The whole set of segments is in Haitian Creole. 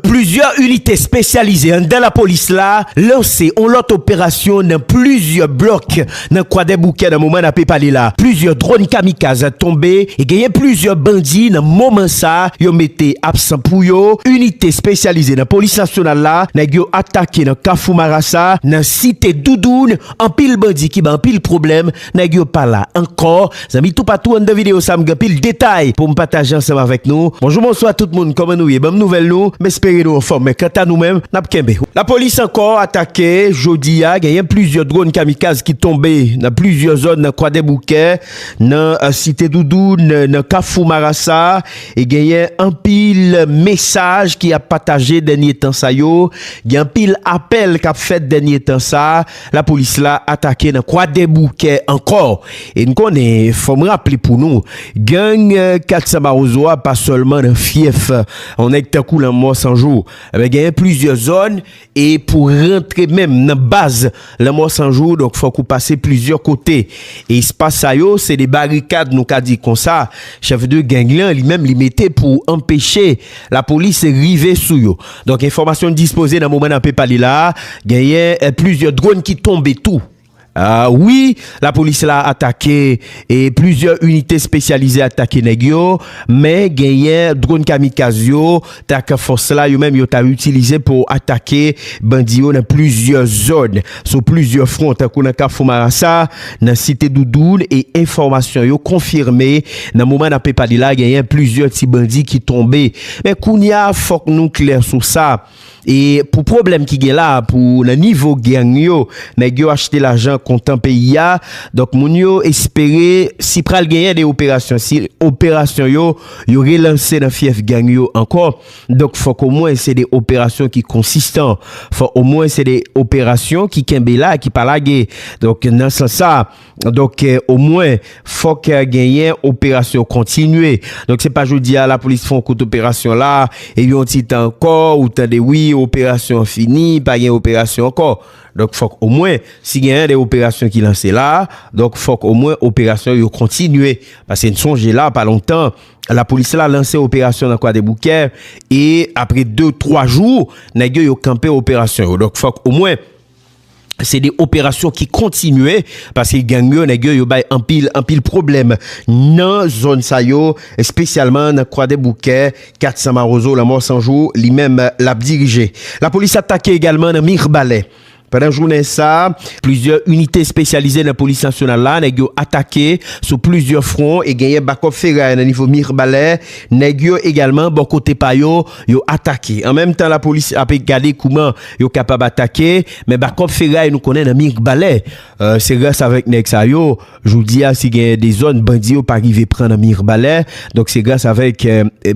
Plizyè inite espesyalize anndan lapolis la lanse on lòt operasyon nan plizyè blòk nan Kwadèboukè nan moman n ape pale la. Plizyè dronn kamikaz tonbe e genyen plizyè bandi nan moman sa yo mete absan pou yo. Inite espesyalize nan polis nasyonal la, nèg yo atake nan kafou marasa nan site Doudoun anpil bandi ki bay anpil pwoblèm. Nèg yo pa la ankò. Zanmi toupatou anndan video sa m gen pil detay poum pataje ansanm avèk nou. Bonjou bonswa tout moun kòman nou ye banm nouvèl nou m espere nou anfòm men kanta nou menm nap kenbe. Lapolis ankò atake jodi a genyen plizyè dronn kamikaz ki tonbe nan plizyè zòn nan kwadèboukè nan site doudoun nan kafou marasa e genyen anpil mesaj ki ap pataje dènye tan sa yo gen anpil apèl kap fèt dènye tan sa. Lapolis la atake nan Kwadèboukè ankò e n konnen, fò m raple pou nou, gang 400 Mawozo a pa sèlman nan fyèf yon nèg tankou Lanmò 100 jou. Enben genyen plizyè zòn e pou rantre menm nan baz Lanmò 100 jou donk fòk ou pase plizyè kote. E espas sa yo se de barikad nou ka di konsa chèf de gang lan li menm li mete pou anpeche lapolis rive sou yo. Donk enfòmasyon n dispoze nan moman n ape pale la a, genyen plizyè dronn ki tonbe tou. Wi, lapolis la atake e plizyè inite espesyalize atake nèg yo, men genyen dronn kamikaz yo tak fòs la yo menm yo ta itilize pou atake bandi yo nan plizyè zòn. sou plizyè fwon tankou nan Kafou Marasa, nan Site Doudoun e enfòmasyon yo konfime nan moman n ape pale la genyen plizyè ti bandi ki tonbe. Men kounye a fòk nou klè sou sa e pou pwoblèm ki gen la pou nan nivo gang yo nèg yo achte lajan kontan peyi a donk moun yo espere si pral genyen de operasyon si operasyon yo yo relanse nan fyèf gang yo ankò Donk fòk omwen se de operasyon ki konsistan. Fòk omwen se de operasyon ki kenbe la, ki pa lage. Donk nan sans sa, donk omwen fòk genyen operasyon kontinye. Donk se pa jodi a lapolis fè yon kout operasyon la, epi yon ti tan ankò ou tande wi operasyon an fini, pa gen operasyon ankò. Donk fòk omwen si genyen de operasyon ki lanse la, donk fòk omwen operasyon yo kontinye. Paske n sonje la pa lontan. Lapolis la lanse operasyon nan Kwadèboukè e apre 2, 3 jou, nèg yo yo kanpe operasyon yo. Donk fòk omwen se de operasyon ki kontinye paske gang yo, nèg yo yo bay anpil, anpil pwoblèm nan zòn sa yo, espesyalman nan Kwadèboukè, kat San Mawozo, Lanmò San Jou li menm l ap dirije. Lapolis atake egalman nan Mirbalè. Pandan jounen sa, plizyè inite espesyalize nan polis nasyonal la, nèg yo atake sou plizyè fwon e genyen bakòp feray nan nivo Mirbalè, nèg yo egalman bò kote pa yo, yo atake. An menm tan lapolis ape gade kouman yo kapab atake, men bakòp feray nou konnen nan Mirbalè, se gras avèk nèg sa yo, Jodi a si gen de zòn bandi yo pa rive pran nan Mirbalè, donk se gras avèk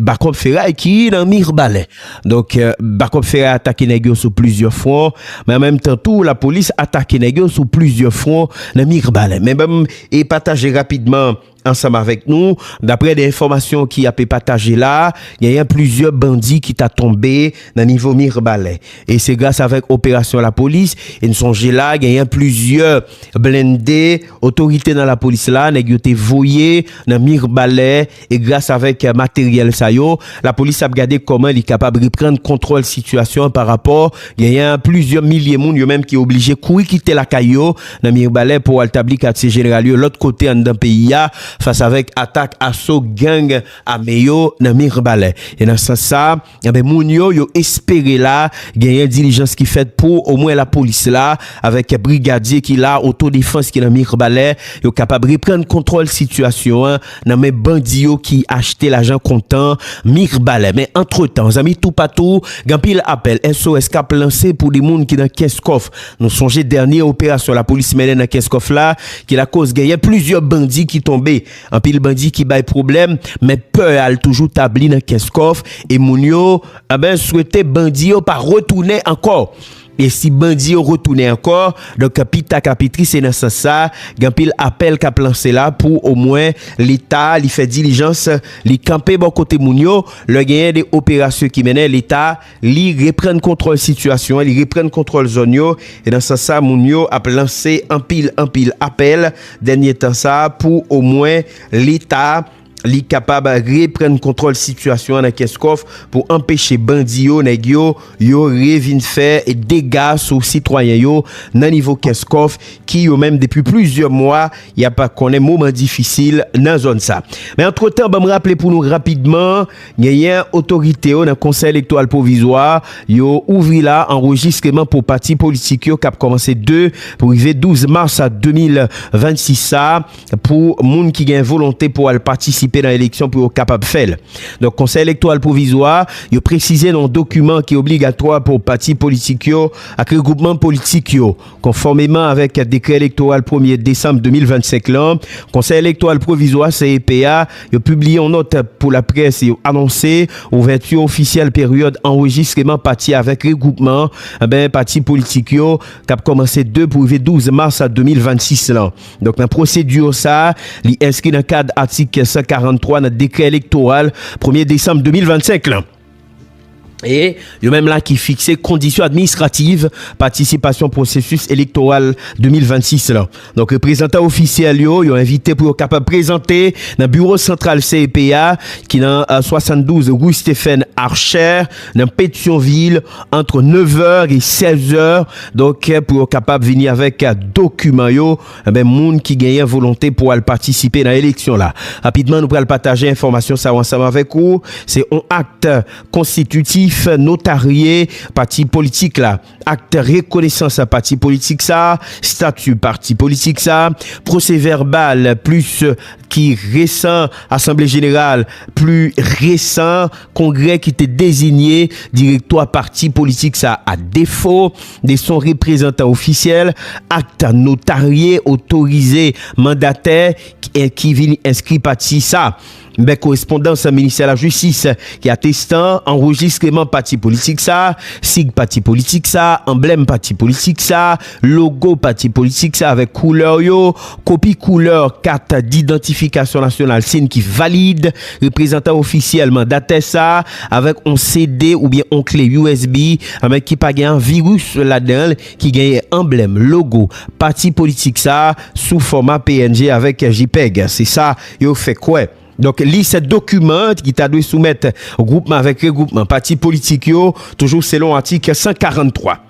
bakòp feray ki nan Mirbalè. Donk bakòp feray atake nèg yo sou plizyè fwon, men an menm tan tou lapolis atake nèg yo sou plizyè fwon nan Mirbalè. Men banm e pataje rapidman ansanm avèk nou, daprè de enfòmasyon ki ape pataje la, genyen plizyè bandi ki ta tonbe nan nivo Mirbalè. E se gras avèk operasyon lapolis, e n sonje la genyen plizyè. blende, otorite nan lapolis la, nèg yo te voye nan Mirbalè, e gras avèk materyèl sa yo, lapolis ap gade kòman li kapab reprann kontwòl sitiyasyon an pa rapò, genyen plizyè milye moun yo menm ki oblije kouri kite lakay yo nan Mirbalè pou al tabli katye jeneral yo lòt kote anndan peyi a, fas avèk atak aso gang ame yo nan Mirbalè. E nan sans sa. Enben moun yo, yo espere la, genyen dilijans ki fèt pou, omwen lapolis la, avèk brigadye ki la, otodefans ki nan Mirbalè, yo kapab reprann kontwòl sitiyasyon an nan men bandi yo ki achte lajan kontan Mirbalè. Men antretan, zanmi toupatou, gen anpil apèl SOS k ap lanse pou 2 moun ki nan Kenskòf. Nou sonje dènye operasyon lapolis mennen nan Kenskòf la, ki lakoz genyen plizyè bandi ki tonbe. Anpil bandi ki bay pwoblèm men pè a l toujou tabli nan kès kòf e moun yo anben swete bandi yo pa retounen ankò e si bandi yo retounen ankò donk pi ta ka pi tri se nan sans sa gen anpil apèl k ap lanse la pou omwen leta li fè dilijans li kanpe bò kote moun yo lè genyen de operasyon ki mennen leta Li reprann kontwòl sitiyasyon an, li reprann kontwòl zòn yo, e nan sans sa moun yo ap lanse anpil anpil apèl dènye tan sa pou omwen leta li kapab reprann kontwòl sitiyasyon an nan Kenscoff pou anpeche bandi yo, nèg yo, yo revin fè dega sou sitwayen yo nan nivo Kenscoff ki yo menm depi plizyè mwa y ap konnen moman difisil nan zòn sa. Men antretan banm raple pou nou rapidman. Genyen otorite yo nan Konsèy Elektoral Pwovizwa a, yo ouvri la anrejistreman pou pati politik yo kap kòmanse 2 pou rive 12 mas 2026 sa a pou moun ki gen volonte pou al patisipe nan eleksyon pou yo kapab fè l. Donk Konsèy Elektoral Pwovizwa a, yo presize nan yon dokiman ki obligatwa pou pati politik yo ak regwoupman politik yo, Konfòmeman avèk dekrè elektoral premye desanm 2025 lan, Konsèy Elektoral Pwovizwa, CEP, a, yo pibliye yon nòt pou laprès, yo anonse ouvèti ofisyèl peryòd anrejistreman pati avèk regwoupman pati politik yo k ap kòmanse 2 pou rive 12 mas 2026 lan. Donk nan pwosedi sa a, li enskri nan kad atik 143 nan dekrè elektoral premye desanm 2025 lan. E, yo menm la ki fikse kondisyon administrativ patisipasyon pwosesis elektoral 2026 lan. Donk, reprezantan ofisyèl yo, yo envite pou yo kapab prezante nan biwo santral CEP a ki nan 72 rue Stephen Archer nan Petyonvil antre 9 è e 16 è. Donk, pou yo kapab vini avèk dokiman yo. Anben moun ki genyen volonte pou al patisipe nan eleksyon la. Rapidman nou pral pataje enfòmasyon sa yo ansanm avèk ou. Se on akt konstititif notarye pati politik la. Akt rekonesans pati politik sa, stati pati politik sa, pwose vèbal plis ki resan asanble jeneral pli resan kongrè ki te dezinye direktwa pati politik sa a defo. 2 son reprezantan ofisyèl, akt notarye otorize mandatè ki vin enskri pati sa bè korespondans Ministè Lajistis ki atestan anrejistreman pati politik sa, sig pati politik sa, anblèm pati politik sa, logo pati politik sa avèk koulè yo, Kopi koulè kat didantifikasyon nasyonal sin ki valid, reprezantan ofisyèl mandatè sa a, avèk on CD oubyen on kle usb avèk ki pa gen an viris ladan l, ki genyen anblèm, logo, pati politik sa a sou fòma png avèk jpeg, se sa yo fè kwè. Donk, lis dokiman ki ta dwe soumèt gwoupman avèk regwoupman pati politik yo, toujou selon atik 143.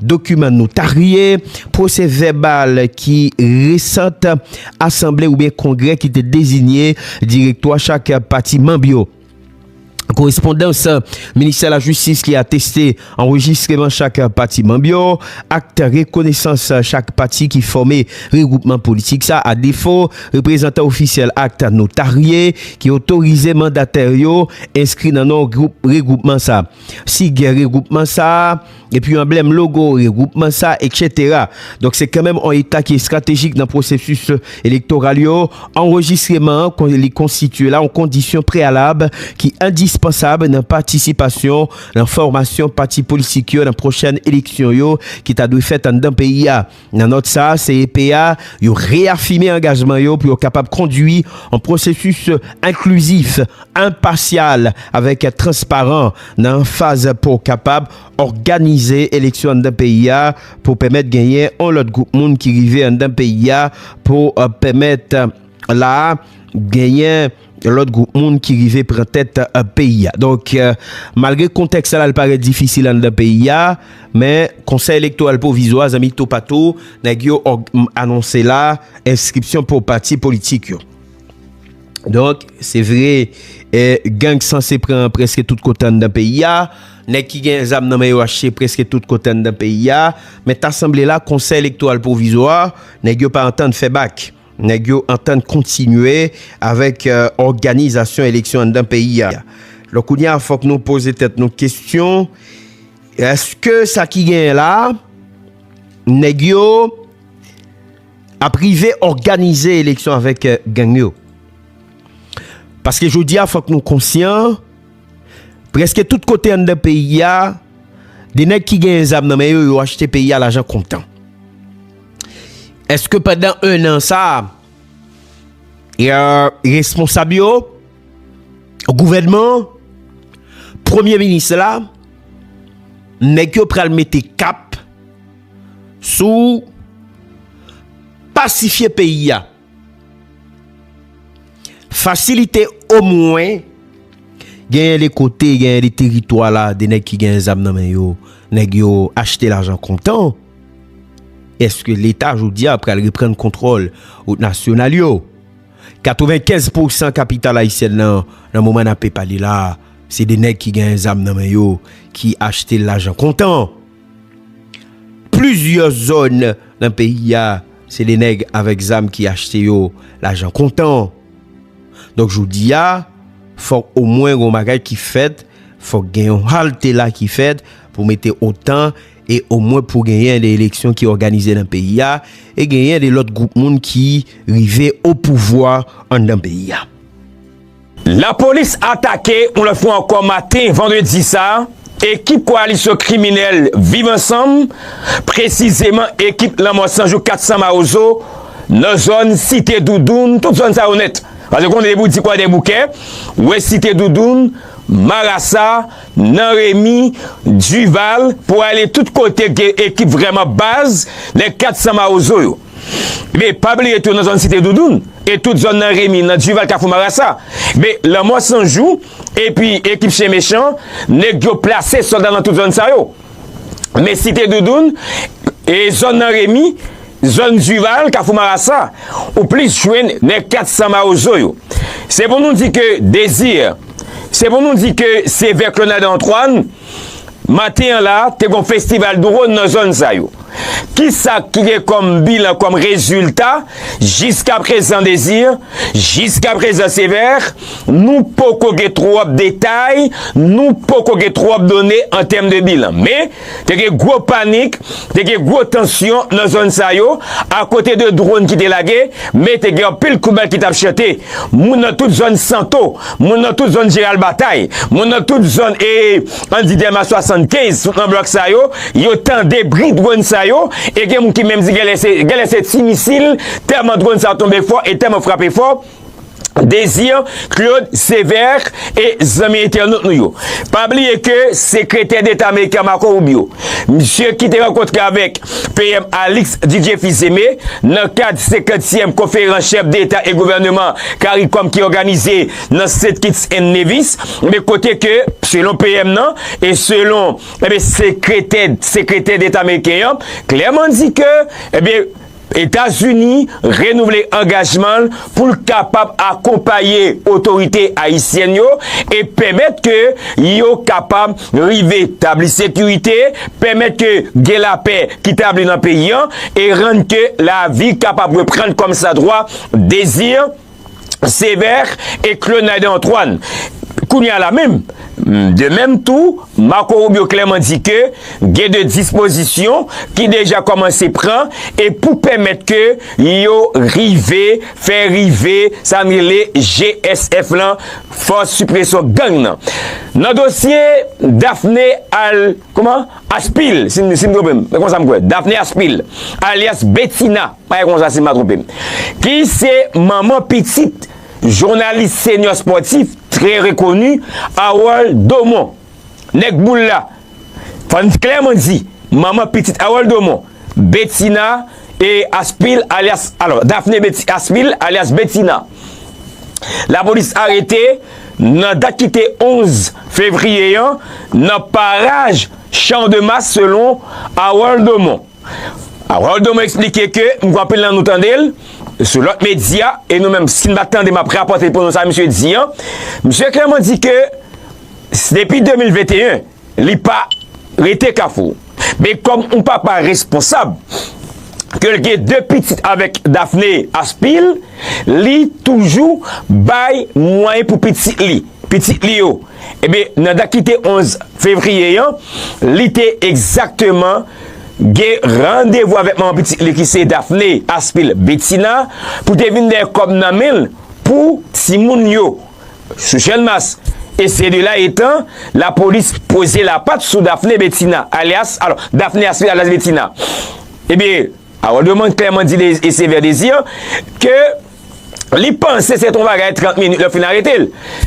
Dokiman notarye, pwosè vèbal ki resant asanble oubyen kongrè ki te dezinye direktwa chak pati manb yo. Korespondans Ministè Lajistis ki ateste anrejistreman chak pati manb yo, Akt rekonesans chak pati ki fòme regwoupman politik sa a defo, reprezantan ofisyèl akt notarye ki otorize mandatè yo enskri nan non regwoupman sa a. Si gen regwoupman sa a. epi anblèm, logo, regwoupman sa, eksetera. Donk se kanmenm on eta ki estratejik nan pwosesis elektoral yo, anrejistreman an kon li konstitye la on kondisyon preyalab ki endispansab nan patisipasyon nan fòmasyon pati politik yo nan pwochèn eleksyon yo ki ta dwe fèt anndan peyi a. Nan nòt sa, CEP a, yo reyafime angajman yo pou yo kapab kondui yon pwosesis enklizif, enpasyal avèk transparan nan faz pou kapab òganize eleksyon anndan peyi a pou pèmèt genyen yon lòt gwoup moun ki rive anndan peyi a pou pèmèt la a genyen Yon lòt gwoup moun ki rive pran tèt peyi a. Donk, malgre kontèks sa la li parèt difisil anndan peyi a, men Konsèy Elektoral Pwovizwa, zanmi toupatou, nèg yo anonse la enskripsyon pou pati politik yo. Donk, se vre, gang sanse pran prèske tout kote anndan peyi a, nèg ki gen zam nan men yo achte prèske tout kote anndan peyi a, men ta sanble la Konsèy Elektoral Pwovizwa, nèg yo pa antann fè bak. Nèg yo antann kontinye avèk òganizasyon eleksyon anndan peyi a. Lò kounye a fòk nou poze tèt nou kesyon, èske sa ki genyen la a, nèg yo ap rive òganize eleksyon avèk gang yo? Paske jodi a fòk nou konsyan, Preske tout kote anndan peyi a, de nèg ki genyen zam nan men yo, yo achte peyi a lajan kontan. Eske pandan 1 an sa, ya responsab yo, gouvènman, premye minis la, nèg yo pral mete kap sou pasifye peyi a? Fasilite omwen genyen de kote, genyen de teritwa la, de nèg ki genyen zam nan men yo, nèg yo achte lajan kontan. Eske leta jodi a pral reprann kontwòl wout nasyonal yo? 95 pousan kapital ayisyèn nan, nan moman nape pale la, se de nèg ki genyen zam nan men yo, ki achte lajan kontan. Plizyè zòn nan peyi a, se de nèg avèk zam ki achte yo lajan kontan. Donk jodi a, fòk omwen gen yon bagay ki fèt, fòk gen yon halte la ki fèt pou mete otan e omwen pou genyen de eleksyon ki òganize nan peyi a e genyen de lòt gwoup moun ki rive opouvwa anndan peyi a. Lapolis atake yon lòt fwa ankò maten vandredi sa a ekip koalisyon kriminèl Viv Ansanm, presizeman ekip Lanmò 100 jou 400 Mawozo nan zòn Site Doudoun, tout zòn sa yo nèt. Pase konnen depi w di Kwadèboukè, w wè Site Doudoun, Marasa, Nan Remi, Dival, pou ale tout kote k gen ekip vrèman baz nèg 400 Mawozo yo. Be pa bliye tou nan zòn site doudoun e tout zòn nan remi nan duval kafou marasa be lanmò sanjou epi ekip chyen mechan nèg yo plase sòlda nan tout zòn sa yo men site doudoun e zòn nan remi zòn duval kafou marasa ou plis jwenn nèg 400 mawozo yo se pou nou di ke dezir se pou nou di ke se vè klonad antwàn. Maten an la, te gon festival dron nan zòn sa yo. Kisa ki gen kòm bilan, kòm rezilta, jiskaprezan Désir, jiskaprezan Sévère, nou poko gen twòp detay, nou poko gen twòp done an tèm de bilan. Men, te gen gwo panik, te gen gwo tansyon nan zòn sa yo, akote de dron ki te lage, men te gen anpil kout bal ki t ap chante. Moun nan tout zòn Santo. Moun nan tout zòn Jeral Batay, moun nan tout zòn e Andy Delmas 75 tout nan blòk sa yo, yo tande bri dronn sa yo e gen moun ki menm di genlè se ti misil tèlman dronn sa tonbe fò e tèlman frape fò Désir Claude Sévère e zanmi entènot nou yo. Pa bliye ke sekretè deta ameriken Marco Rubio. Misye ki te rankontre avèk PM Alix Didier Fils-Aimé nan kad 50 tièm konferans chèf deta e gouvèneman caricom ki òganize nan St Kitts and Nevis ebyen kote ke selon PM nan e selon ebyen sekretè sekretè deta ameriken an klèman di ke ebyen Etazini renouvle angajman l pou l kapab akonpaye otorite ayisyèn yo e pèmèt ke yo kapab rive tabli sekirite, pèmèt ke gen lapè ki tabli nan peyi an e rann ke lavi kapab reprann kòmsadwa, dezi. Sever e Clonade Antoine. Kounye a la menm, de menm tou, Marco Rubio klèman di ke gen de dispozisyon ki deja kòmanse pran e pou pèmèt ke yo rive fè rive sa n rele GSF lan, Fòs Sipresyon Gang nan. Nan dosye Daphné al. Kouman? Aspil, si m twonpe m. Se konsa m kwè. Daphné Aspil, alyas Betina, pa gen konsa si m pa twonpe m. Ki se manman pitit jounalis senyor spòtif trè rekoni Harold Domon. Nèg boul la. Fò n klèman di, manman pitit Harold Domon, Betina, e Aspil alyas alò Dafne Beti Aspil alyas Betina lapolis arete nan dat ki te 11 fevriye an nan paraj Chan de Mas selon Harold Domon Harold Domon eksplike ke m kwè anpil nan nou tande l sou lòt medya e nou menm si n pa tande m ap rapòte pou nou sa misye di an misye klèman di ke depi 2021 Li pa rete kafou. Men kòm yon papa responsab, ke l gen 2 pitit avèk Daphnée Aspil, li toujou bay mwayen pou pitit li. Pitit li yo. Ebyen, nan dat ki te 11 fevriye an, li te egzakteman gen randevou avèk manman pitit li ki se Daphnée Aspil Bethina pou te vin dèyè kòb nan men l pou timoun yo. Sou Jeune Mas e se de la etan, la polis poze la pat sou Daphné Bethina alyas, alò, Daphné Astride alyas Bethina. Ebyen, Harold Drummond klèman di de e Sévère Désir ke li panse se te yon bagay 30 minit lè fin arete l.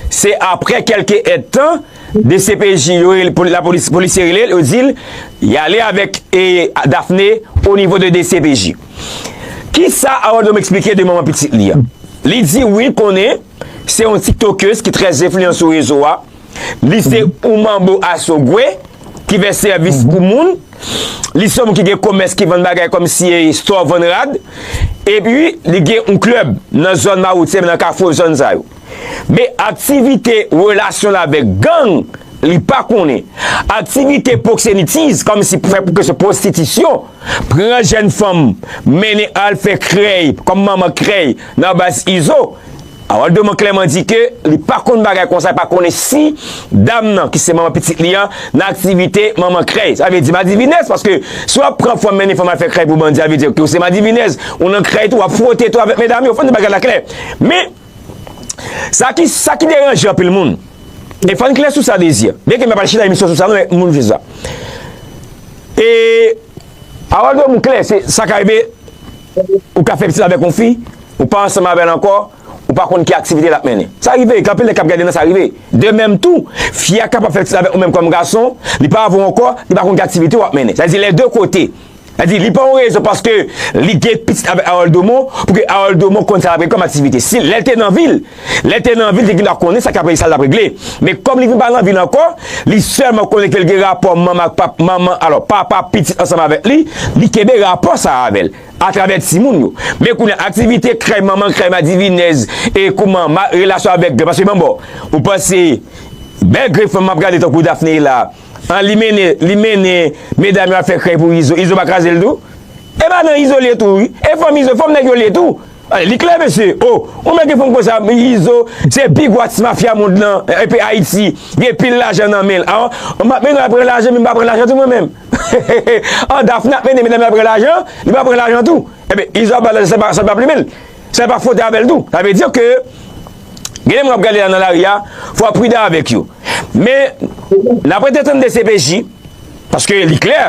Se aprè kelke èd tan, dcpj yo rele, pou la polis, polisye rele l, yo di l, y ale avèk e Daphné o nivo de dcpj. Kisa Harold Drummond eksplike de manman pitit li an? Li di wi konnen. Se yon tiktokeuse ki trè enfliyan sou rezo a. Li se yon manbo asogwe ki fè sèvis pou moun. Li se yon moun ki gen komès ki vann bagay kòm si e store vann rad. E pi li gen yon klèb nan zòn mawoutye nan kafou zòn sa yo. Men aktivite relasyon l avèk gang li pa konnen. Aktivite pwoksenitiz kòm si pou fè pou kesyon pwostitisyon. Pran jèn fanm mennen al fè krèy kòm manman krèy. Nan baz Izo, Harold Domon klèman di ke li pa konn bagay konsa, li pa konnen si dam nan ki se manman pitit li an nan aktivite manman krèy. Sa vle di madivinèz paske si wap pran fanm mennen fanm al fè krèy pou bandi sa vle di ke ou se madivinèz, ou nan krèy tou, wap fwote tou avèk medam yo, fòn nou di bagay la klè. Men, sa ki sa ki deranje anpil moun, e fòn klè sou sa Désir, byen ke m pa pral chita emisyon sou sa non men moun vle sa. E Harold Domon klè se sa ka rive Ou ka fè pitit avèk yon fi, ou pa ansanm avè l ankò, ou pa konn ki aktivite l ap mennen. Sa rive, gen anpil nèg k ap gade nan sa rive. De menm tou, fi a kapab fè pitit avèk ou menm kòm gason, li pa avè w ankò, li pa konn ki aktivite w ap mennen. Sa vle di lè de kote. Sa vle di li pa yon rezon paske li gen pitit avèk Harold Domon pou ke Harold Domon konn sa l ap gen kòm aktivite. Si lè l te nan vil. Lè l te nan vi, l te gendwa konnen sa k ap regle, sa l t ap regle. Men kòm li vin pa nan vi l ankò, li sèlman konnen ke l gen rapò manman ak pap, manman, alò, papa ak pitit ansanm avèk li, li kenbe rapò sa a avè l, atravè timoun yo. Men kounye a, aktivite krèy manman, krèy madivinèz, e kouman ma, relasyon avèk gran, paske manbo, ou panse, bèl grenn fanm m ap gade tankou Daphnée la, an li mennen, li mennen medam yo al fè krèy pou Izo, Izo pa kraze l tou? E madan Izo l ye tou wi, e fanm Izo, fanm nèg yo l ye tou. Li klè mesye oh ou mèt gen fanm konsa izo se pi gwo atis mafya mond lan epi ayiti gen pil lajan nan menl ah map mennenl al pran lajan menm pa pran lajan tou mwen menm hehehe ah dafne ap mennen medam yo al pran lajan li pa pran lajan tou ebyen izo ap bal lajan san li pa plumenl san li pa fwote avèl tou sa vle di ke gen nèg wap gade la nan lari a fò wap pridan avèk yo men nap rete tande dcpj paske li klè.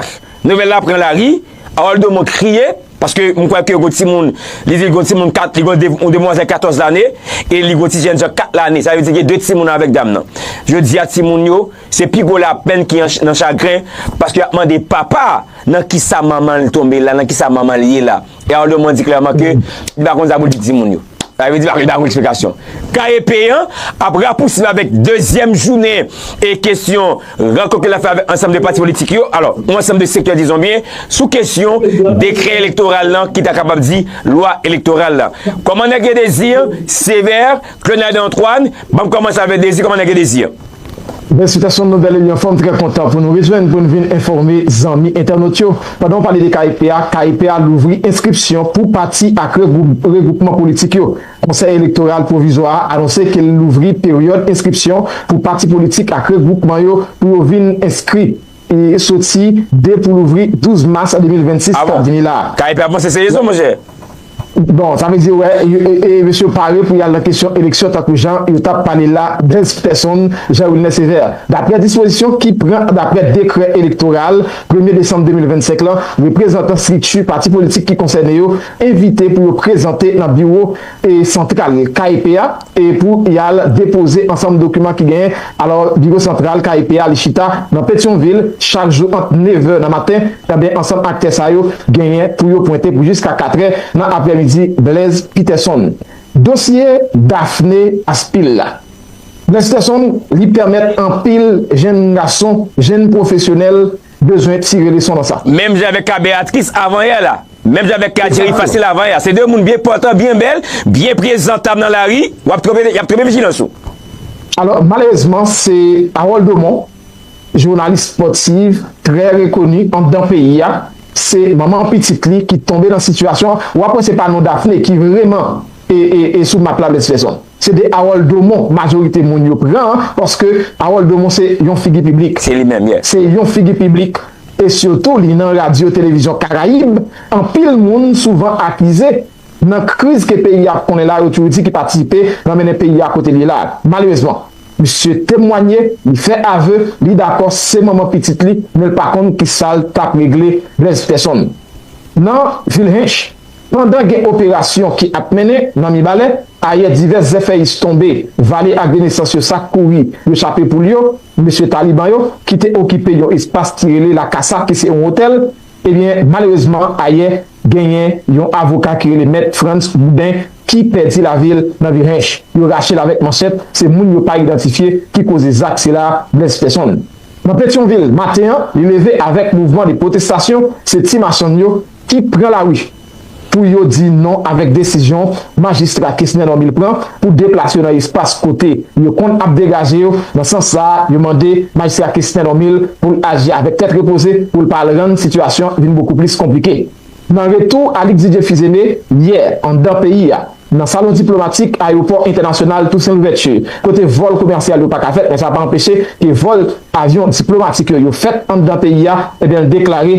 Nouvèl la pran lari, Harold Domon kriye, paske m kwè ke gon timoun, li di gon timoun 4, li gon yon demwazèl 14 lane, e li gon ti jèn jan 4 lane, sa vle di gen 2 timoun avèk dam nan. Jodi a timoun yo, se pi gwo lapenn ki nan chagren, paske y ap mande papa a, nan kisa manman l tonbe la, nan kisa manman l ye la. E Ardo Mwen di klèman ke li pa konn sa pou l di timoun yo. Sa vle di pa li pa konn eksplikasyon. KEP an ap rapousib avèk dezyèm jounen e kesyon rankont ke l ap fè avèk ansanm de pati politik yo, alò, yon ansanm de sektè dizon byen, sou kesyon dekrè elektoral lan ki ta kapab di lwa elektoral la. Kòman nèg yo dezi an, Sévère, Claude Antoine, banm kòmanse avè Désir kòman nèg yo Désir? Bèl sitasyon nou bèl eminyon fòm trè kontan pou nou rejwenn pou n vin enfòme zanmi entènot yo pandan w pale de KEP a KEP a louvri enskripsyon pou pati ak regwoupman politik yo konsèy elektoral pwovizwa a anonse ke l louvri peryòd enskripsyon pou pati politik ak regwoupman yo pou yo vin enskri soti 2 pou louvri 12 mas 2026 kap vini la. Kay pè ap manse se rezon monchè. Bon, sa vle di wè e mesye yo pare pou yal nan kesyon eleksyon tankou jan yo tap pale la Dens Pèson Jean Wilner Sévère Daprè dispozisyon ki pran daprè dekrè elektoral premye desanm 2025 lan reprezantan strikti pati politik ki konsène yo envite pou yo prezante nan biwo santral KEP a pou y al depoze ansanm dokiman ki genyen. Alò, biwo santral KEP a li chita nan Petyonvil chak jou ant nevè nan maten, enben ansanm aktè sa yo genyen pou yo pwente pou jiska katrè nan aprèmidi Blèz Pitèsonn. Dosye Dafne Aspil la Blèz Pitèsonn li pèmèt anpil jenn gason, jenn pwofesyonèl Bezwen tire leson nan sa. Menm jan avèk ka Beatrice avan yè la. Menm jan avèk ka Jerry Facile avan yè a. Se 2 moun byen pòtan, byen bèl, byen prezantab nan lari, w ap twonpe, y ap twonpe vijilans ou. Alò, malerezman, se Harold Domon, jounalis spòtiv trè rekoni anndan peyi a, se manman pitit li ki tonbe nan sitiyasyon an. W ap wè se pa non Daphné ki vreman e sou map la Blens Fèzon. Se de Harold Domon majorite moun yo pran an paske Harold Domon se yon figi piblik. Se li menm, yeah. Se yon figi piblik e sitou li nan radyo televizyon karayib anpil moun souvan akize nan kriz ke peyi a konnen la yo toujou di ki patisipe nan mennen peyi a kote li ye la a. Malerezman misye temwanye, li fè aveu, li dakò se manman pitit li men l pa konn kisal tap regle Blaise Pterson nan vil Hinche. Pandan gen operasyon ki ap mennen nan Mibalè, ayè divès zèfèyis tonbe vale agrenesans yo sa kouri yo chape poul yo, mesye Taliban yo ki te okipe yon espas ki rele La Casa ki se yon otèl, ebyen malerezman ayè genyen yon avoka ki rele mèt Frantz Boudin ki pèdi lavil nan Virhinche, yo rachel avèk manchèt, se moun yo pa idantifye ki koze zak sila blèse pèsonn. Nan Petyonvil maten an li leve avèk mouvman de pwotestasyon se ti machann yo ki pran lari pou yo di non avèk desizyon Majistra Kesner Normil pran pou deplas yo nan espas kote yo konn ap degaje yo. Nan sans sa a, yo mande Majistra Kesner Normil pou l aji avèk tèt repoze pou l pa al rann sitiyasyon vin bokou plis konplike. Nan retou Alix Didier Fils-Aimé yè anndan peyi a, nan salon diplomatik ayewopò entènasyonal Toussaint Louverture, kote vòl komèsyal yo pa ka fèt men sa pa anpeche ke vòl avyon diplomatik yo yo fèt anndan peyi a, ebyen l deklare.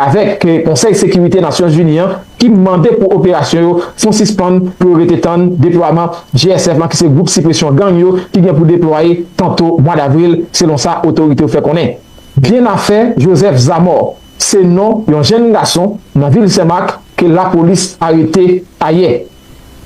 avèk Konsèy Sekirite Nasyon Zini an ki mande pou operasyon yo fon sispann pou yo rete tann deplwaman GSF lan ki se gwoup sipresyon gang yo ki gen pou deplwaye tanto mwa davril selon sa otorite yo fè konnen. Byenafè Joseph Zamor se non yon jenn gason nan vil Senmak ke lapolis arete ayè.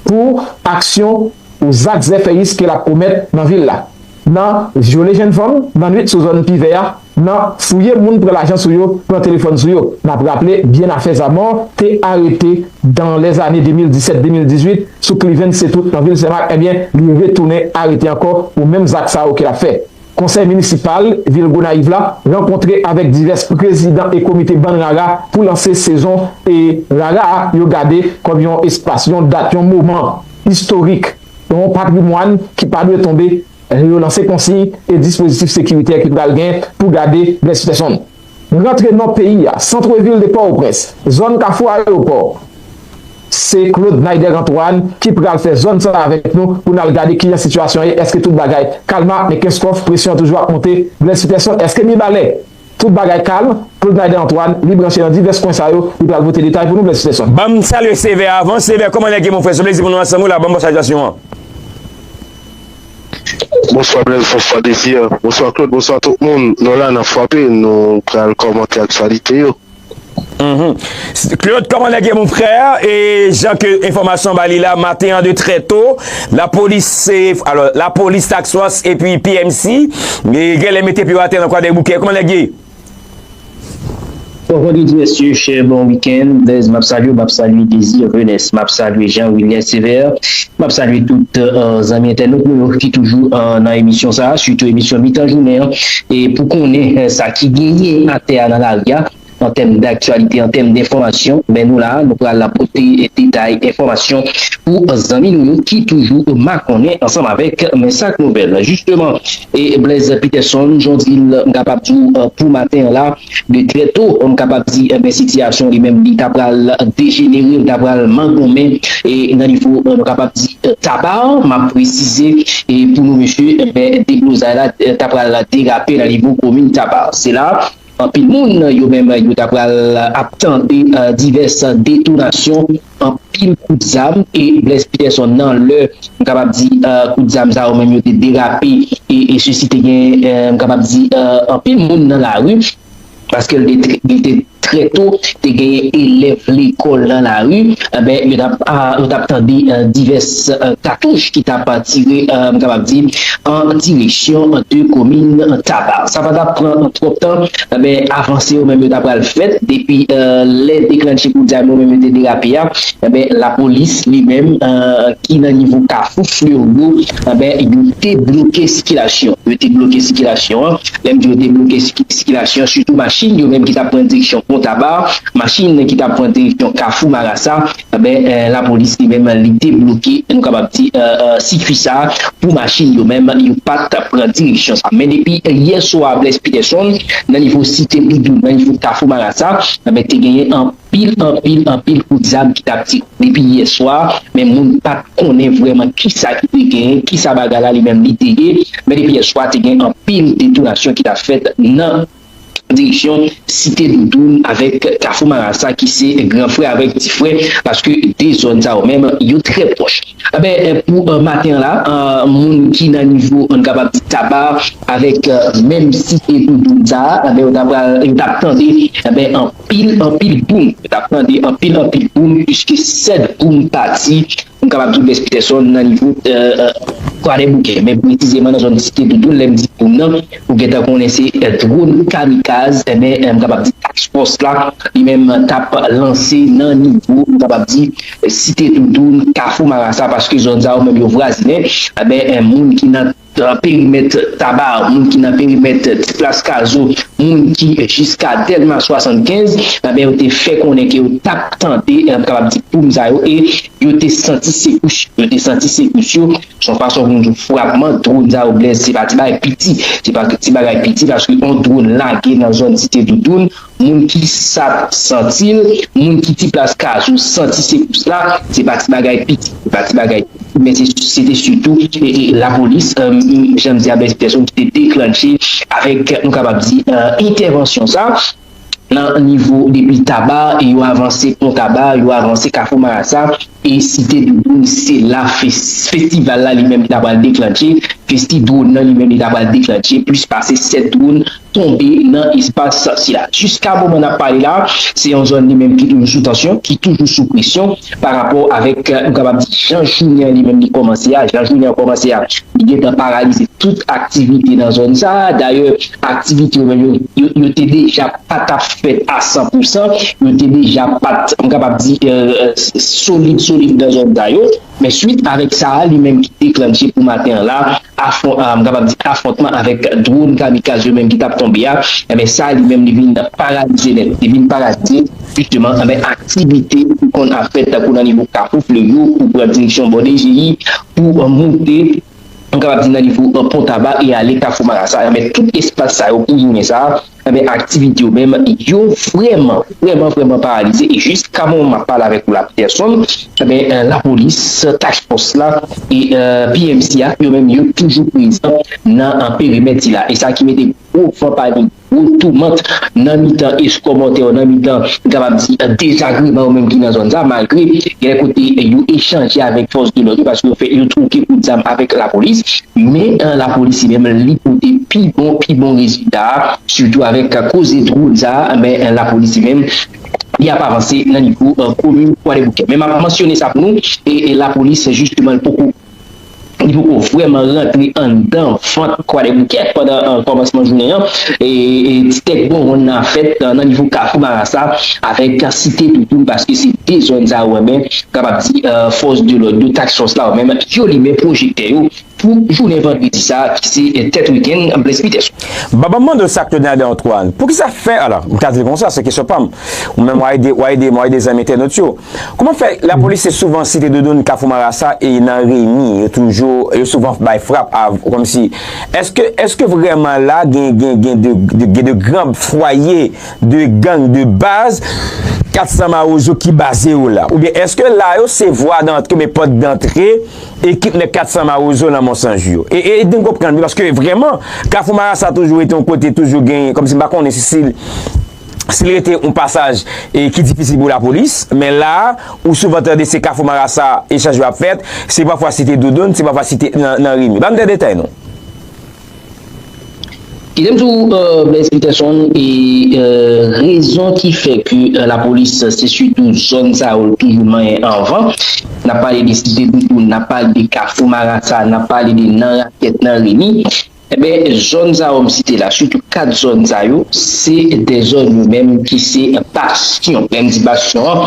pou aksyon ou zak zèfèyis ke l ap komèt nan vil la, nan vyole jenn fanm nan nwit sou zòn Pi Vè a, nan fouye moun pran lajan sou yo, pran telefòn sou yo. N ap raple Bien Affaires à Mort te arete dan lè zane 2017, 2018 sou Cliven Cetoute nan vil Senmak, ebyen li retounen arete ankò pou menm zak sa yo ke l ap fè. Konsèy minisipal vil Gonayiv la rankontre avèk divès prezidan e komite bann rara pou lanse sezon e rara a yo gade kòm yon espas, yon dat, yon moman istorik, yon patrimwàn ki pa dwe tonbe, yo lanse konsiy e dispozitif sekiritè ki pral gen pou gade blèspèsonn. Rantre nò peyi a, centre ville de Port-au-Prince, zòn kafou ayewopò. Se Claude Naider Antoine ki pral fè zòn sa avèk nou pou n al gade kijan sitiyasyon ye, èske tout bagay kalma, men Kenskòf presyon an toujou ap monte, Blaise Peterson èske Mibalè tout bagay kalm, Claude Naider Antoine li branche nan divès kwen sa yo, li pral pote detay pou nou Blaise Peterson. Banm salye Sévère avan, Sévère kòman nèg yo monfrè se plezi pou nou ansanm wi la banm bon salytasyon an. Bonswa Blaise bonswa Desir bonswa Claude bonswa tout moun nou la nan fwape nou pral kòmante aktyalite yo. Claude kòman nèg yo mon frè e jan ke enfòmasyon an ba li la maten an de trè to lapolis se alò lapolis task force epi PMC genlè mete pye yo atè nan kwadèboukè kòman nèg yo ye? Bonjour tout mesye chè bon weekend Blaise map salye w map salye Désir Venès map salye Jean Wilner Sévère map salye tout zanmi entènot nou yo ki toujou nan emisyon sa sitou emisyon mitan jounen an e pou konnen sa ki genyen atè a nan lari a an tèm daktyalite an tèm denfòmasyon men nou la nou pral pote detay enfòmasyon pou zanmi nou yo ki toujou makonnen ansanm avèk men sak nouvèl jisteman. E Blaise Peterson, jan w di l, m kapab di w pou maten an la, de trè to, m kapab di ebyen sitiyasyon li menm li ta pral dejenere, li ta pral mangonmen e nan nivo nou kapab di Taba an, m ap presize e pou nou mesye, ebyen deblozay la ta pral derape nan nivo komin Taba. Se la Anpil moun yo menm yo ta pral ap tande divès detonasyon, anpil kout zam e Blaise Peterson nan lè m kapab di kout zam sa yo menm yo te derape e sesi te gen m kapab di anpil moun nan lari paske li te trè to te genyen elèv lekòl nan lari. Enben, yo tap yo tap tande divès katouch ki tap tire, m kapab di, an direksyon de komin Taba. Sa pa tap pran twòp tan, enben, avanse yo menm yo ta pral fèt depi lè deklannche kout zam yo menm yo te derape a, enben, lapolis li menm ki nan nivo kafou Fleurgo, enben, yo te bloke sikilasyon. Yo te bloke sikilasyon an, lè m di yo te bloke sikilasyon, sitou machin yo menm ki tap pran direksyon pon Taba. Machin ki tap pran direksyon kafou marasa enben lapolis li menm li debloke nou kapab di sikwi sa pou machin yo menm yo pat pran direksyon sa men depi yè swa Blaise Peterson nan nivo site boudou nan nivo kafou marasa enben te genyen anpil anpil anpil kout zam ki tap tire depi yè swa men moun pat konnen vrèman kisa ki te genyen kisa bagay la li menm li te ye men depi yè swa te gen anpil detonasyon ki tap fèt nan. direksyon Site Doudoun avèk Kafou Marasa ki se gran frè avèk ti frè paske 2 zòn sa yo menm yo trè pwòch. Anben pou maten an la moun ki nan nivo nou kapab di Taba avèk menm Site Doudoun sa anben yo ta pral yo t ap tande anben anpil anpil boum yo t ap tande anpil anpil boum piske 7 boum pati M kapab di Blès Peterson nan nivo Kwadèboukè, men presizeman nan zòn Site Doudoun, lè m di ou nan, ou gentan konnen se dwòn kamikaz, enben m kapab di Task Force la li menm t ap lanse nan nivo, m kapab di Site Doudoun, Kafou Marasa, paske zòn sa yo menm yo vwazinen, enben moun ki nan. nan perimèt Taba, moun ki nan perimèt Ti Plas Kazo, moun ki jiska Dèlma 75, anben yo te fè konnen ke yo tap tande, m kapab di poum sa yo, e yo te santi sekous yo, yo te santi sekous yo, son fason pou m di w frapman dron sa yo Blaise se pa ti bagay piti, se pa ti bagay piti paske yon dron lage nan zòn Site Doudoun. Moun ki sap santi l, moun ki ti plas kazou santi sekous la, se pa ti bagay piti, se pa ti bagay piti men se te sitou lapolis jan m di a Blaise Peterson ki te deklannche avèk nou kapab di entèvansyon sa nan nivo depi Taba yo avanse Pon Taba, yo avanse Kafou Marasa e Site Doudoun se la festival la li menm ta pral deklannche festi dwòn nan li menm li ta pral deklannche plis pase 7 dwòn. tonbe nan espas sila. Jiska moman n ap pale la, se yon zòn li menm ki toujou sou tansyon, ki toujou sou presyon pa rapò avèk nou kapab di jan jounen an li menm li kòmanse a. Jan jounen an kòmanse a, li gen tan paralize tout aktivite nan zòn sa a. Dayè, aktivite yo menm yo, yo te deja pa t ap fèt a san pou san. Yo te deja pa t, m kapab di, solid solid nan zòn sa yo. Men swit avèk sa a li menm ki deklanche pou maten an la, afwon, m kapab di afwontman avèk dwon kamikaz yo menm ki t ap tonbe a, enben sa li menm li vin paralize nèt, li vin paralize jisteman anben aktivite ki konn ap fèt tankou nan nivo Kafou Fleyo pou pran direksyon bò DGI pou moute, m kapab di nan nivo Pon Taba e ale Kafou Marasa, enben tout espas sa yo pou jounen sa a. Enben aktivite yo menm yo vrèman vrèman vrèman paralize e jiska moman map pale avèk ou la Peterson enben lapolis task fòs la e PMC a yo menm yo toujou prezan nan perimèt sila e sa ki mete gwo van panik gwo toumant nan mitan eskòbòtè yo nan mitan m kapab di dezagreman yo menm ki nan zòn sa malgre genlè kote yo echanje avèk fòs de lòd yo paske yo fè yo twoke kout zam avèk lapolis. Men lapolis li menm li pote pi bon pi bon rezilta sitou avèk koze dwòn sa men lapolis li menm li ap avanse nan nivo komin kwadèboukè men map mansyone sa pou nou e lapolis jisteman poko li poko vrèman rantre anndan vant kwadèboukè pandan kòmansman jounen an e ti tèt bonbon nan ap fèt nan nivo kafou marasa avèk site toutoul paske se 2 zòn sa yo men kapab di fòs de lòd yo task fòs la yo menm yo limen pwojè. Kè yo pou jounen vandredi sa ki se tèt wikenn Blaise Peterson. Baba m mande w sa Claude Nader Antoine, poukisa fè, ala, m ka di l konsa, se kesyon pa m, ou menm w a ede, w a ede m, w a ede zanmi entènot yo, kouman fè lapolis se souvan Site Doudoun, Kafou Marasa e nan Remi yo toujou, yo souvan bay frap a, kòmsi, èske, èske vrèman la gen, gen, gen de, gen de gran fwaye de gang de baz 400 mawozo ki baze yo la? Oubyen èske la yo se vwa dantre oubyen pòt dantre Ekip nèg 400 mawozo nan Monsanju yo. E ede m konprann wi paske vrèman Kafou Marasa toujou rete yon kote toujou gen kòmsi m pa konnen si si si l rete yon pasaj e ki difisil pou lapolis men la a ou souvan tande se Kafou Marasa echanj yo ap fèt se pafwa Site Doudoun se pafwa Site nan Rimi. Ban m de detay non. Idem tou Blaise Peterson e rezon ki fè ke lapolis se sitou zòn sa yo li toujou manyen anvan. N ap pale de Site Bouboun, n ap pale de Kafou Marasa, n ap pale de nan Rakèt, nan Remi. Enben zòn sa yo m site la, sitou 4 zòn sa yo, se de zòn yo menm ki se bastyon. Lè m di bastyon an,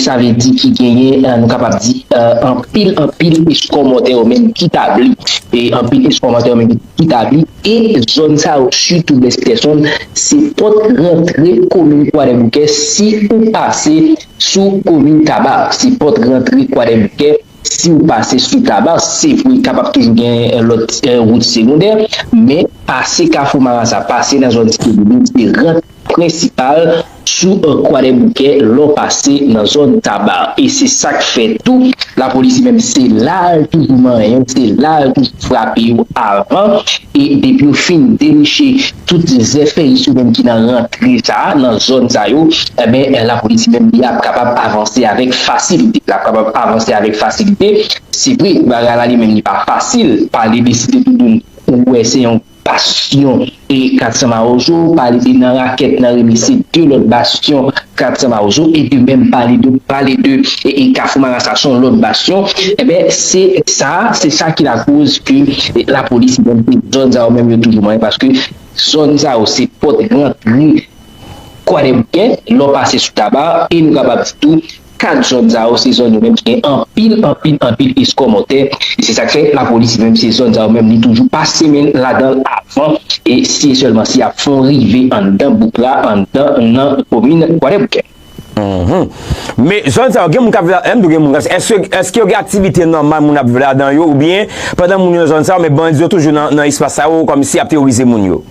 sa vle di ki genyen nou kapab di anpil. pil anpil eskò mòtè yo menm ki tabli e anpil eskò mòtè yo menm ki tabli e zòn sa yo sitou Best Tèson se pòt rantre komin Kwadèboukè si ou pase sou komin Tabar se pòt rantre Kwadèboukè si ou pase sou Tabar se vre kapab toujou gen lòt wout segondè men pase kafou marasa pase nan zòn site boudin se rantre. prensipal sou Kwadèboukè lè w pase nan zòn Taba e se sa k fè tou lapolis li menm se la l toujou manyen yo, se la l toujou frape yo avan e depi yo fin deniche tout zèfèyis yo menm ki nan rantre sa a, nan zòn sa yo enben lapolis li menm li ap kapab avanse avèk fasilite, l ap kapab avanse avèk fasilite. Se vre bagay la li menm li pa fasil, pale de Site Toudoun ou wè se yon. Bastyon e 400 Mawozo pale nan rakèt nan remese 2 lòt bastyon 400 Mawozo e de menm pale de pale de e Kafou Marasa son lòt bastyon enben se sa se sa ki lakoz ke lapolis menm ke zòn sa yo menm yo toujou manyen paske zòn sa yo se pòt rantre kwadèboukè lè w pase sou Taba e nou kapab di tou 4 zòn sa yo se zòn yo menm ki gen anpil anpil anpil eskòmòtè e se sak fè lapolis menm se zòn sa yo menm li toujou pase men l ladan l avan e si e sèlman si y ap fè yon rive anndan bouk la anndan nan komin kwadèboukè. Men zòn sa yo gen moun k ap viv ladan yo gen moun k ap èske yo gen aktivite nòmal moun ap viv ladan yo oubyen pandan moun yo nan zòn sa yo men bandi yo toujou nan espas sa yo kòmsi y ap teworize moun yo.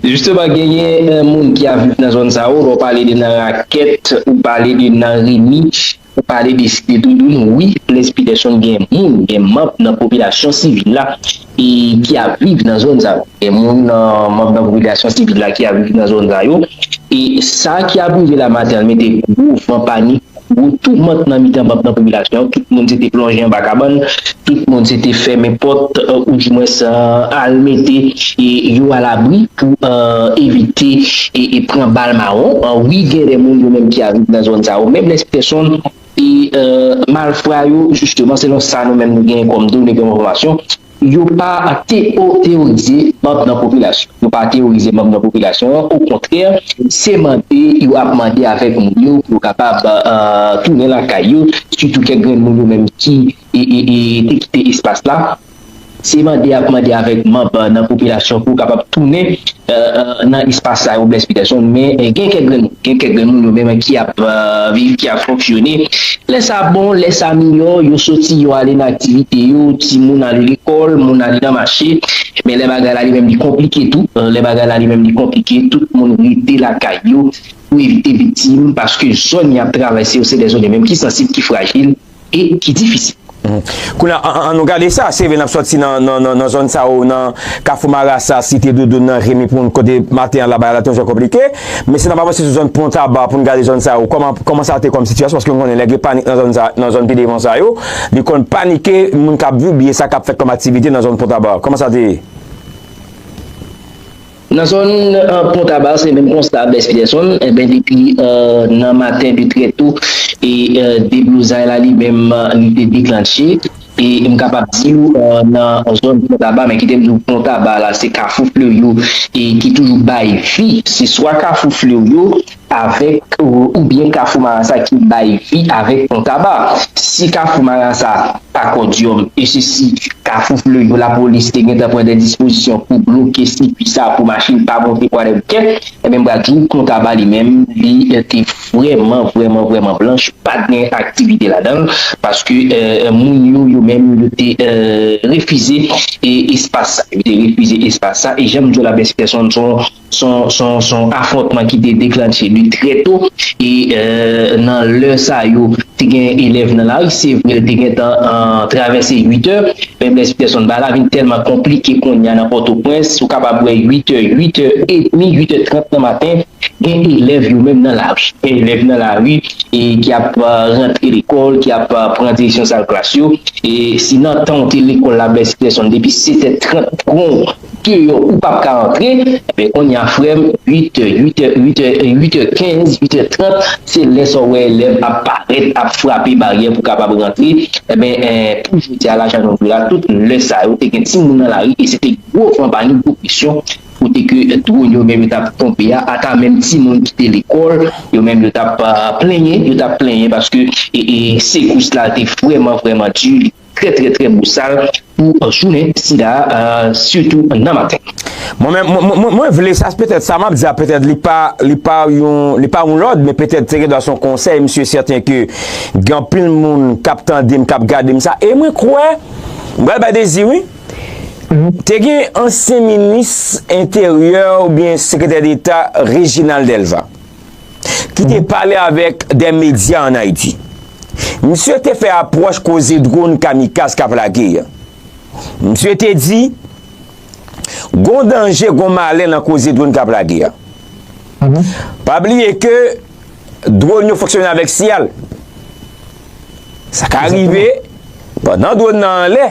Jisteman genyen moun ki ap viv nan zòn sa yo, lè w pale de nan rakèt, ou pale de nan remi, ou pale de site doudoun, wi Blaise Peterson gen moun, gen manb nan popilasyon sivil la ki ap viv nan zòn sa yo, gen moun nan manb nan popilasyon sivil la ki ap viv nan zòn sa yo e sa ki ap rive la matè mete gwo van panik. Gwo toumant nan mitan banb nan popilasyon an, tout moun se te plonje anba kabann, tout moun se te fèmen pòt ou di mwens al mete yo alabri pou evite pran bal mawon, wi gen de moun yo menm ki al viv nan zòn sa yo, menm lè se pèsonn e malfra yo jisteman selon sa nou menm nou genyen kòm done kòm enfòmasyon Yo pa teoorize manb nan popilasyon yo pa teoorize manb nan popilasyon an okontrè se mande yo ap mande avèk moun yo pou yo kapab tounen lakay yo sitou kèk grenn moun yo menm ki te kite espas la se mande yap mande avèk manb nan popilasyon pou yo kapab tounen nan espas sa yo Blaise Peterson men gen kèk grenn moun gen kèk grenn moun yo menm ki ap viv ki ap fonksyone lè sa bon lè sa miyò yo soti yo ale nan aktivite yo timoun ale lekòl moun ale nan mache men lè bagay la li menm li konplike tou lè bagay la li menm li konplike tout moun rete lakay yo pou evite viktim paske zòn y ap travèse yo se de zòn yo menm ki sansib ki frajil e ki difisil. Kounye a, an nou gade sa, se vre n ap sòti nan zòn sa yo, nan Kafou Marasa, Site Doudoun nan, Remi Poun, kote maten an la bagay la te yon jan konplike, men si n ap avanse sou zòn Pontaba pou n gade zòn sa yo, kòman sa te kòm sitiyasyon, paske nou konnen lè gen panik nan zòn sa, nan zòn pi devan sa yo, li konn panike moun k ap viv oubyen sa k ap fèt kòm aktivite nan zòn Pontaba, kòman sa te ye? Nan zòn Pon Taba se menm konsta a Bès Pyèsonn enben depi nan maten de trè to e deblozay la li menm li te deklannche e m kapab di w nan zòn Pon Taba men kite m di w Pon Taba la se Kafou Fleryo e ki toujou bay vi se swa Kafou Fleryo avèk oubyen kafou marasa ki bay vi avèk pon taba si kafou marasa pa kòdyòm e se si kafou fleyo lapolis te gentan pran dè dispozisyon pou bloke sikwi sa pou machin pa monte pou ale bouke enben m pral di w pon taba li menm li te vrèman vrèman vrèman blanch pat gen aktivite ladanl paske moun yo yo menm yo te refize espas sa yo te refize espas sa e janm di w laprès pèsonn son. Son afwontman ki te deklantche li trè to e nan lè sa yo te gen elèv nan lari. Se vre l te gentan travèse uitè, men Blaise Peterson ba la vin tèlman konplike kounye a nan Pòtoprens, ou kapab wè uitè, uitè edmi, uitè trant nan maten gen elèv yo menm nan lari. Gen elèv nan lari ki ap rantre lekòl, ki ap pran direksyon sal klas yo. Si nan tan ou te lekòl la Blaise Peterson depi setè trant gon. deyò ou pap ka antre enben konnya frèm 8 è 8 è 8 è 8 è 15 8 è 30 se lè sa w wè elèv ap parèt ap frape baryè pou kapab rantre enben pou jodi a la jan nou vle a tout lè sa yo te gen timoun nan lari e se te gwo van pa ni gwo presyon kote ke dron yo menm yo t ap tonbe a ata menm timoun ki te lekòl yo menm yo t ap plenyen yo t ap plenyen paske e e sekous la te vrèman vrèman di li. Trè trè trè bosal pou jounen sida a sitou nan maten. Mwen menm mwen mwen vle sa petèt sa map di a petèt li pa li pa yon li pa yon lòd men petèt se gen dwa son konsèy msye sèten ke gen anpil moun kap tandem kap gadem sa e mwen kwè m pral bay dezi wi te gen ansyen minis enteryè oubyen sekretè deta Reginald Delva. ki te pale avèk de medya an Ayiti. Misye te fè apwòch koze dronn kamikaz k ap lage yo. Misye te di, Gon danje, gon malè nan koze dronn k ap lage yo. Pa bliye ke dronn yo fonksyone avèk siyal. Sa ka rive, pandan dronn nan anlè,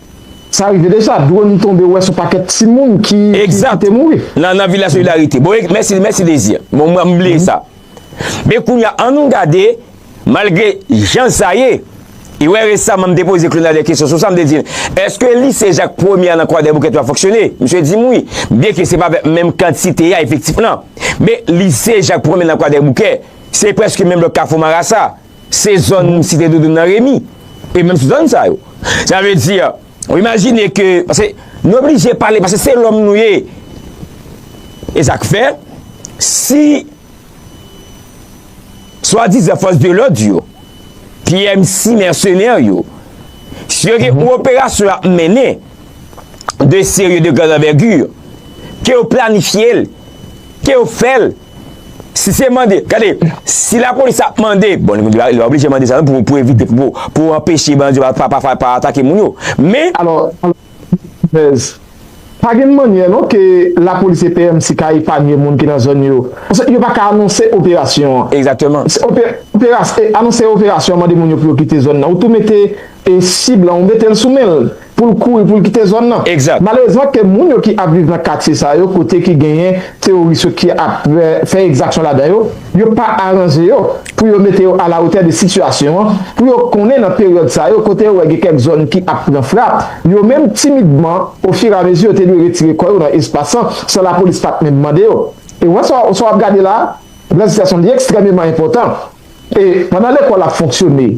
Sa rive deja, drone tonbe wè son pakèt timoun ki te mouri. Exact, nan Villa Solidarité. Bon, mèsi, mèsi Désir. Bon, mwen bliye sa. Men kounye a, an nou gade, malgre jan sa ye, e wè resaman m te poze Claude Nader kesyon sou sa, m te di l, èske lise Jacques Premier a nan Kwadèboukè 3 fonksyone? Misye di m wi, byen ke se pa avèk menm kantite a efektif lan. Men lise Jacques Premier nan Kwadèboukè, se prèske menm lòt Kafou Marasa. Se zòn Site Doudoun nan Remi. E menm sou zòn sa yo. Sa vle di, ou imajine ke, pase, nou oblije pale, pase se lòm nou ye. E sa k fè, si, swa dizan fòs de lòd yo, PMC mèsenè yo, si yo gen yon operasyon y ap mennen, de serye de gran anvègir, ke yo planifye l, ke yo fè l, Si se mande, gade, si la polis ap mande, bon, li va oblije mande sa nou pou evite, pou anpeche bandi yo pa atake moun yo, men. Alò, Pèz, pa gen mannyè non ke la polis e PMC ka epanye moun ki nan zòn yo. Paske yo pa ka anonse operasyon an. Egzakteman. Anonse operasyon an mande moun yo pou yo kite zòn nan. Ou tou mete. E si blan ou mete l sou men l pou l kouri pou l kite zòn nan? Exact. Malerezman ke moun yo ki ap viv nan katye sa yo kote ki genyen teworis yo ki ap fè ekzaksyon ladan yo, yo pa aranje yo pou yo mete yo alawotè de sitiyasyon an, pou yo konnen nan peryòd sa yo kote yo wè gen kèk zòn ki ap pran frap, yo menm timidman ofiramezi yo te dwe retire kò yo nan espas lan san lapolis pat menm mande yo. E wè sa w ap gade la a, blan sitiyasyon li ekstrèmeman enpòtan. E pandan lekòl ap fonksyone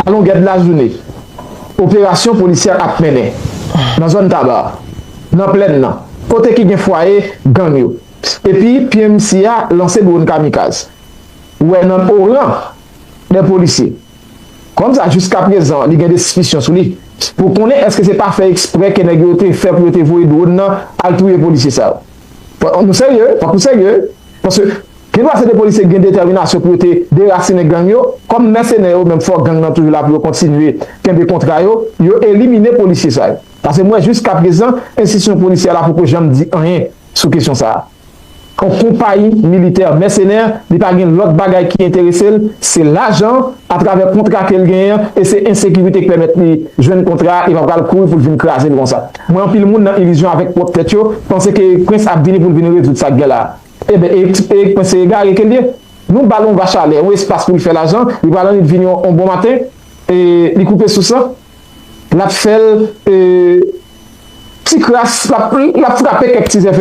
alongèd lajounen, operasyon polisyè ap mennen nan zòn Taba, nan plèn nan, kote ki gen fwaye gang yo. Epi PMC a lanse dwon kamikaz. Wè nan oran dè polisye. Kòmsa jiska prezan li gen de sispisyon sou li pou konnen eske se pa fè eksprè ke nèg yo te fè pou yo te voye dwon nan al touye polisye sa yo. Fòk nou serye, fòk nou serye paske Gendwa se 2 polisye ki gen detèminasyon pou yo te derasinen gang yo, kòm mèsenè yo menm fò gang nan toujou la pou yo kontinye kenbe kontra yo, yo elimine polisye sa yo. Pase m wè jiskaprezan enstitisyon polisyè la poko janm di anyen sou kesyon sa a. On konpayi militè mèsenè, li pa gen lòt bagay ki enterese l, se lajan atravè kontra ke l genyen an e se ensekirite ki pèmèt li jwenn kontra a e pa pral kouri pou l vin kraze l konsa. Mwen anpil moun nan ilizyon avèk pwòp tèt yo, panse ke Prince ap vini pou l vin rezoud sa k gen la a. Eben e e kpwen se egare ke l ye. Nou ba l yon va chalè, yon espas pou l fè lajan, li pral annik vin yon bon maten e li koupe sous lan, l ap fè l e ti kras, l ap l ap frape kèk ti zèfè.